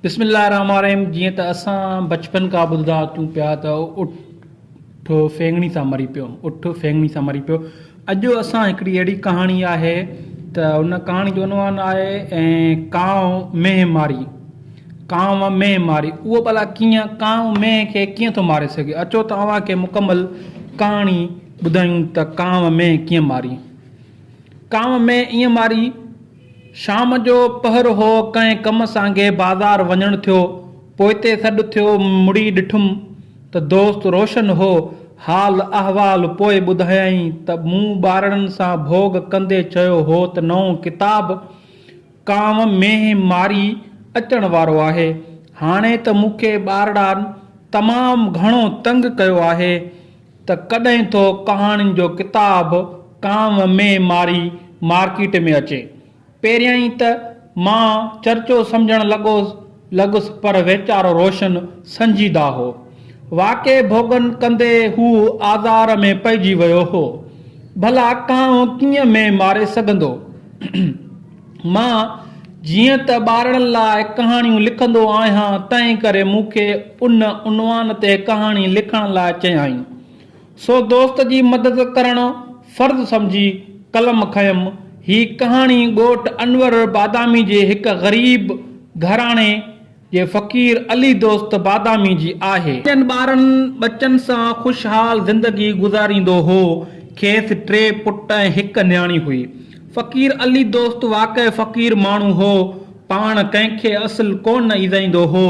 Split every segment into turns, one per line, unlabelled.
بسم الله الرحمٰن الرحيم جيئن ته اسان بچپن کان ٻڌندا اچون پيا ته اٺ ڦينگڻي سان مري پيو اٺ ڦينگڻي سان مري پيو اڄ اسان هڪڙي اهڙي ڪهاڻي آهي ته ان ڪهاڻي جو عنوان آهي ۽ ڪانء مينهن ماري ڪانء مينهن ماري اهو ڀلا ڪيئن ڪانء مينهن کي ڪيئن ٿو ماري سگهي اچو ته اوهان کي مڪمل ڪهاڻي ٻڌايون ته ڪانء مينهن ڪيئن ماري ڪانء مينهن ائين ماري شام جو پهر هو، ڪنهن ڪم سانگي بازار وڃڻ ٿيو، پوئتي سڏ ٿيو، مڙي ڏٺم ته دوست روشن هو، حال احوال پوء ٻڌايائين ته مون ٻارڙن سان ڀوڳ ڪندي چيو هو ته نئون ڪتاب ڪانء مينهن ماري اچڻ وارو آهي، هاڻي ته مون کي ٻارڙان تمام گهڻو تنگ ڪيو آهي، ته ڪڏهن ٿو ڪهاڻين جو ڪتاب ڪانء مين ماري مارڪيٽ ۾ اچي. پهريائين ته مان چرچو سمجهڻ لڳوس لڳس پر ويچارو روشن سنجيده هو. واقعي ڀوڳن ڪندي هو آزار ۾ پئجي ويو هو. ڀلا ڪانء ڪيئن مين ماري سگهندو. مان جيئن ته ٻارڙن لاء ڪهاڻيون لکندو آهيان تنهن ڪري مون کي ان عنوان تي ڪهاڻي لکڻ لاء چيائين. سو دوست جي مدد ڪرڻ فرض سمجهي قلم کنيم. هي ڪهاڻي ڳوٺ انور بادامي جي هڪ غريب گهراڻي، جي فقير علي دوست بادامي جي آهي. پنهنجن ٻارن ٻچن سان خوشحال زندگي گذاريندو هو. کيس ٽي پٽ ۽ هڪ نياڻي هئي. فقير علي دوست واقعي فقير ماڻهو هو. پاڻ ڪنهن کي اصل ڪو نه ايذائيندو هو.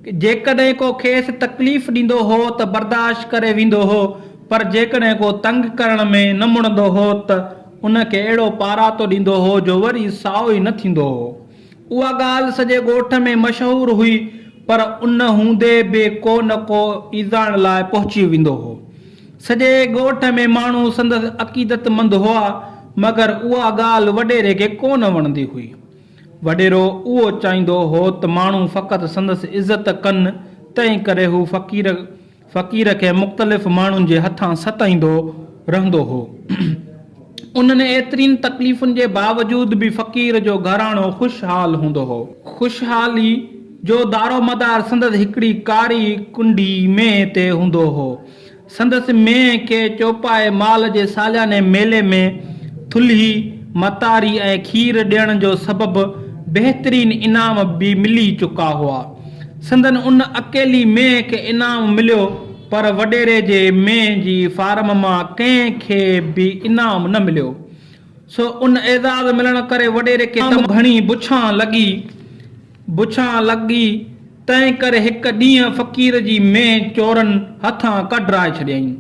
جيڪڏهن ڪو کيس تڪليف ڏيندو هو ته برداشت ڪري ويندو هو پر جيڪڏهن ڪو تنگ ڪرڻ ۾ نه مڙندو هو ته ان کي اهڙو پاراتو ڏيندو هو جو وري سائو ئي نه ٿيندو هو. اها ڳالهه سڄي ڳوٺ ۾ مشهور هئي، پر ان هوندي به ڪو نه ڪو ايذائڻ لاء پهچي ويندو هو. سڄي ڳوٺ ۾ ماڻهو سندس عقيدتمند هئا، مگر اها ڳالهه وڏيري کي ڪو نه وڻندي هئي. وڏيرو اهو چاهيندو هو ته ماڻهو فقط سندس عزت ڪن، تنهنڪري هو فقير. فقير کي مختلف ماڻهن جي هٿان ستائيندو رهندو هو. انهن ايترين تڪليفن جي باوجود به فقير جو گهراڻو خوشحال هوندو هو. خوشحالي جو دارومدار سندس هڪڙي ڪاري ڪنڊي مينهن تي هوندو هو. سندس مينهن کي چوپائي مال جي سالياني ميلي ۾ ٿلهي، متاري ۽ کير ڏيڻ جو سبب بهترين انعام به ملي چڪا هئا. سندن ان اڪيلي مينهن کي انعام مليو پر وڏيري جي مينهن جي فارم مان ڪنهن کي به انعام نه مليو. سو ان اعزاز ملڻ ڪري وڏيري کي تمام گهڻي بڇان لڳي. بڇان لڳي تنهن ڪري هڪ ڏينهن فقير جي مينهن چورن هٿان ڪڍرائي ڇڏيائين.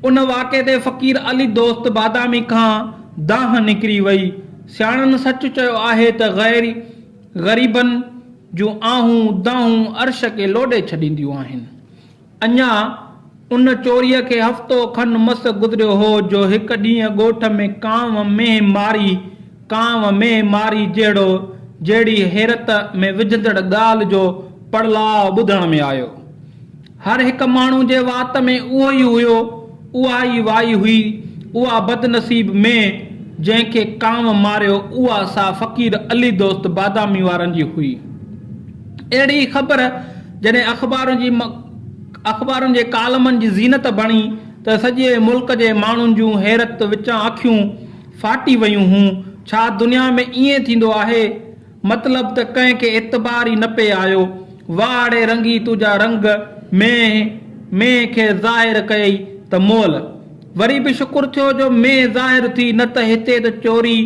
ان واقعي تي فقير علي دوست بادامي کان دانهن نڪري وئي. سياڻن سچ چيو آهي ته غيري غريبن جون آهون دانهون عرش کي لوڏي ڇڏينديون آهن. اڃا ان چوريء کي هفتو کن مس گذريو هو جو هڪ ڏينهن ڳوٺ ۾ ڪانء مينهن ماري، ڪانء مينهن ماري جهڙو جهڙي حيرت ۾ وجهندڙ ڳالهه جو پڙلاء ٻڌڻ ۾ آيو. هر هڪ ماڻهو جي وات ۾ اهو ئي هيو، اها ئي وائي هئي، اها بدنصيب مين جنهن کي ڪانء ماريو اها سا فقير علي دوست بادامي وارن جي هئي. اهڙي ئي خبر جڏهن اخبارن جي اخبارن جي ڪالمن جي زينت بڻي ته سڄي ملڪ جي ماڻهن جون حيرت وچان اکيون ڦاٽي ويون هون، ڇا دنيا ۾ ائين ٿيندو آهي؟ مطلب ته ڪنهن کي اعتبار ئي نه پئي آيو. واڙي رنگي تنهنجا رنگ مينهن مينهن کي ظاهر ڪيئي ته مئل. وري به شڪر ٿيو جو مينهن ظاهر ٿي نه ته هتي ته چوري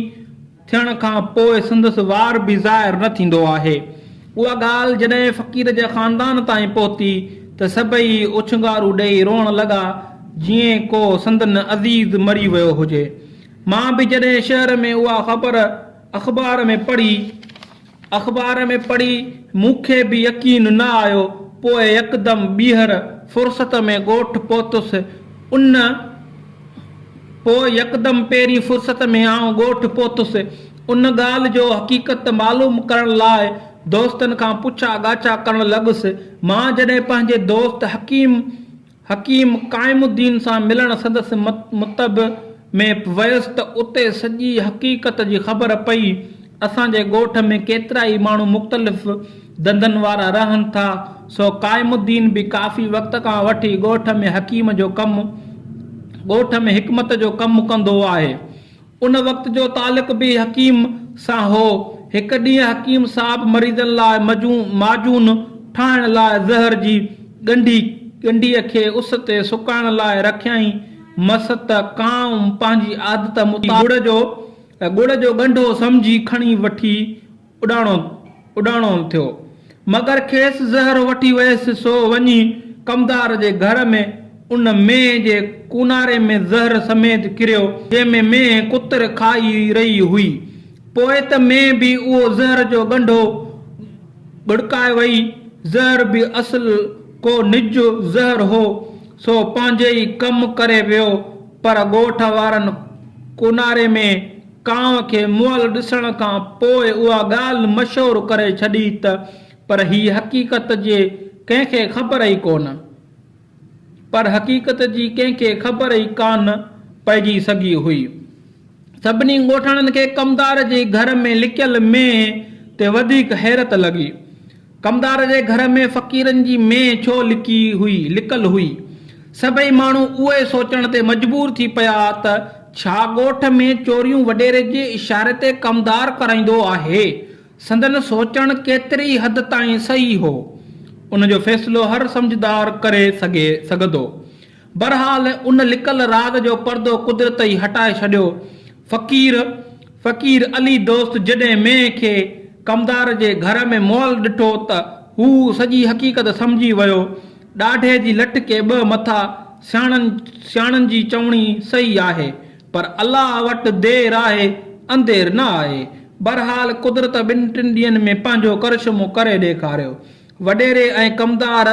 ٿيڻ کان پوء سندس وار به ظاهر نه ٿيندو آهي. اها ڳالهه جڏهن فقير جي خاندان تائين پهتي ته سڀئي اڇنگارون ڏيئي روئڻ لڳا جيئن ڪو سندن عزيز مري ويو هجي. مان به جڏهن شهر ۾ اها خبر اخبار ۾ پڙهي اخبار ۾ پڙهي مون کي به يقين نه آيو پوء يڪدم ٻيهر فرصت ۾ ڳوٺ پهتس ان پوء يڪدم پهرين فرصت ۾ آئون ڳوٺ پهتس ان ڳالهه جو حقيقت معلوم ڪرڻ لاء دوستن کان پڇا ڳاڇا ڪرڻ لڳس مان جڏهن پنهنجي دوست حڪيم حڪيم قائم الدين سان ملڻ سندس مطب ۾ ويس ته اتي سڄي حقيقت جي خبر پئي. اسان جي ڳوٺ ۾ ڪيترا ئي ماڻهو مختلف ڌنڌن وارا رهن ٿا، سو قائم الدين به ڪافي وقت کان وٺي ڳوٺ ۾ حڪيم جو ڪم، ڳوٺ ۾ حڪمت جو ڪم ڪندو آهي. ان وقت جو تعلق به حڪيم سان هو. هڪ ڏينهن حڪيم صاحب مريضن لاء مجون، معجون، ٺاهڻ لاء زهر جي ڳنڍي، ڳنڍيء کي اس تي سڪائڻ لاء رکيائين. مس ته ڪانء پنهنجي عادت مطابق ڳڙ جو، ڳڙ جو ڳنڍو سمجهي کڻي وٺي اڏاڻو اڏاڻو ٿيو، مگر کيس زهر وٺي ويس، سو وڃي ڪمدار جي گهر ۾ ان مينهن جي ڪوناري ۾ زهر سميت ڪريو، جنهن ۾ مينهن ڪتر کائي رهي هئي. پوء ته مينهن به اهو زهر جو ڳنڍو ڳڙڪائي وئي. زهر به اصل ڪو نج زهر هو، سو پنهنجي ئي ڪم ڪري ويو، پر ڳوٺ وارن ڪوناري ۾ ڪانء کي مئل ڏسڻ کان پوء اها ڳالهه مشهور ڪري ڇڏي ته پر هي حقيقت جي ڪنهن کي خبر ئي ڪونه. پر حقيقت جي ڪنهن کي خبر ئي ڪانه پئجي سگهي هئي. سڀني ڳوٺاڻن کي ڪمدار جي گهر ۾ لڪيل مينهن تي وڌيڪ حيرت لڳي. ڪمدار جي گهر ۾ فقيرن جي مينهن ڇو لڪي هئي، لڪل هئي؟ سڀئي ماڻهو اهوئي سوچڻ تي مجبور ٿي پيا ته ڇا ڳوٺ ۾ چوريون وڏيري جي اشاري تي ڪمدار ڪرائيندو آهي؟ سندن سوچڻ ڪيتري حد تائين صحيح هو؟ ان جو فيصلو هر سمجهدار ڪري سگهي سگهندو. بھرحال ان لڪل راز جو پردو قدرت ئي ھٽائي ڇڏيو. فقير فقير علي دوست جڏھن مينھن کي ڪمدار جي گھر ۾ مئل ڏٺو ته ھو سڄي حقيقت سمجھي ويو. ڏاڍي جي لٺ کي ٻھ مٿا، سياڻن سياڻن جي چوڻي صحيح آھي. پر الله وٽ دير آھي اندير نه آھي. بھرحال قدرت ٻن ٽن ڏينھن ۾ پنھنجو ڪرشمو ڪري ڏيکاريو. وڏيري ۽ ڪمدار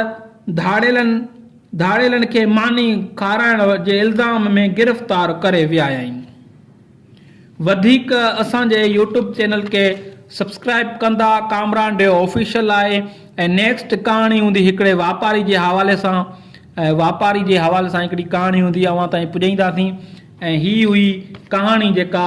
ڌاڙيلن ڌاڙيلن کي ماني کارائڻ جي الزام ۾ گرفتار ڪري ويايائين. وڌيڪ اسان جي يوٽيوب چينل کي سبسڪرائيب ڪندا ڪامران ڊيو آفيشل آهي ۽ نيڪسٽ ڪهاڻي هوندي هڪڙي واپاري جي حوالي سان ۽ واپاري جي حوالي سان هڪڙي ڪهاڻي هوندي اوهان تائين پڄائينداسين ۽ هي هئي ڪهاڻي جيڪا